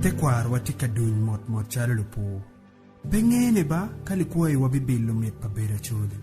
Tekwarowa tye ka duny motmot calo lupur. Pe ngene ba ka likwayiwa bibilo mit pa bedo acoli.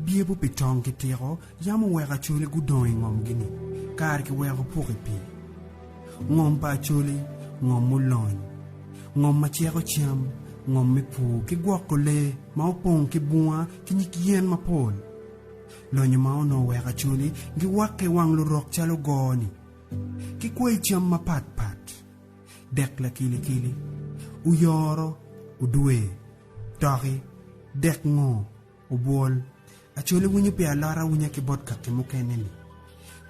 Dyebo pi tong ki tiko yam oweko acoli gudong i ngomgi-ni kare kiweko opuk i pii. Ngom pa acoli, ngom mulony, ngom ma ceko cam, ngom me pur ki gwoko lee ma opong ki bunga ki nyig yen mapol. Lonyo ma onongo weko acoli giwakke i wang lurok calo goo-ni ki kwai cam mapat pat, dek lakilikili, oyoro, odwe, toki, dek ngoo, obwol. Acoli winyo pi alot awinya ki bot kaki mukene-ni.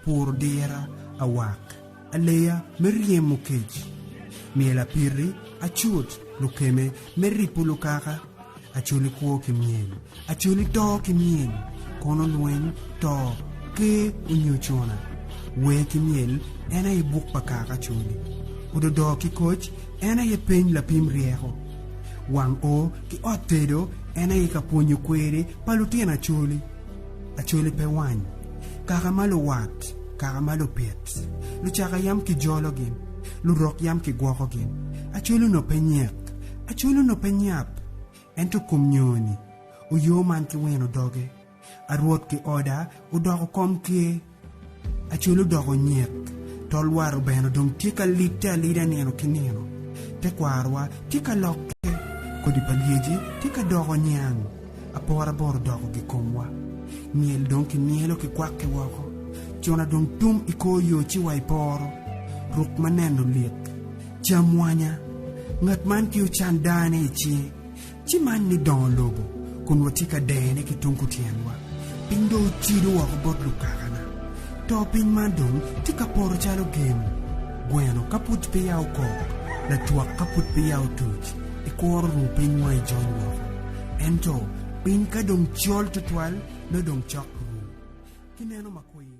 Puro dira, awak, aleya me ryemo kec, myel apiti, acut, lukeme me ripo lukaka, acoli kwo ki myel, acoli to ki myel, kono lweny, to, ker onyo cuna, wer ki myel en aye buk pa kaka acoli, ododo ki koc en aye peny lapim ryeko, wang o ki ot tedo en aye ka pwonyo kweri pa lutino acoli. Acholi pe wany, kaka ma luwat, kaka ma lupit, lucaka yam kijolo gin, lurok yam kigwoko gin, acholi onongo pe nyek, acholi onongo pe nyap, ento kom nyoni oyo man ki wino doge, a Rwot ki oda odoko kom ker. Acel odoko nyet, to olwar obeno dong tye ka lite alida nino ki nino. Tekwarowa tye ka lokke, kodi pa lyeci tye ka doko niang, apora bot odoko gikomwa. Myel dong kimyelo ki kwakke woko, cona dong tum i kor yo ci wa i poro. Ruk ma neno lik! Cam wanya! Ngat man ki ocan dane i cinge, Ci man ni dongo lobo, kun watye ka dene ki tung kutyenwa. Piny dong ocido woko bot lukakana. To piny man dong tye ka poto calo gin, gweno ka pud peya okok, lacwak ka pud peya otuc, ikuro ruu piny wa ijony woko. Ento piny ka dong col tutwal, nongo dong cok ruu. Kineno ma kwir.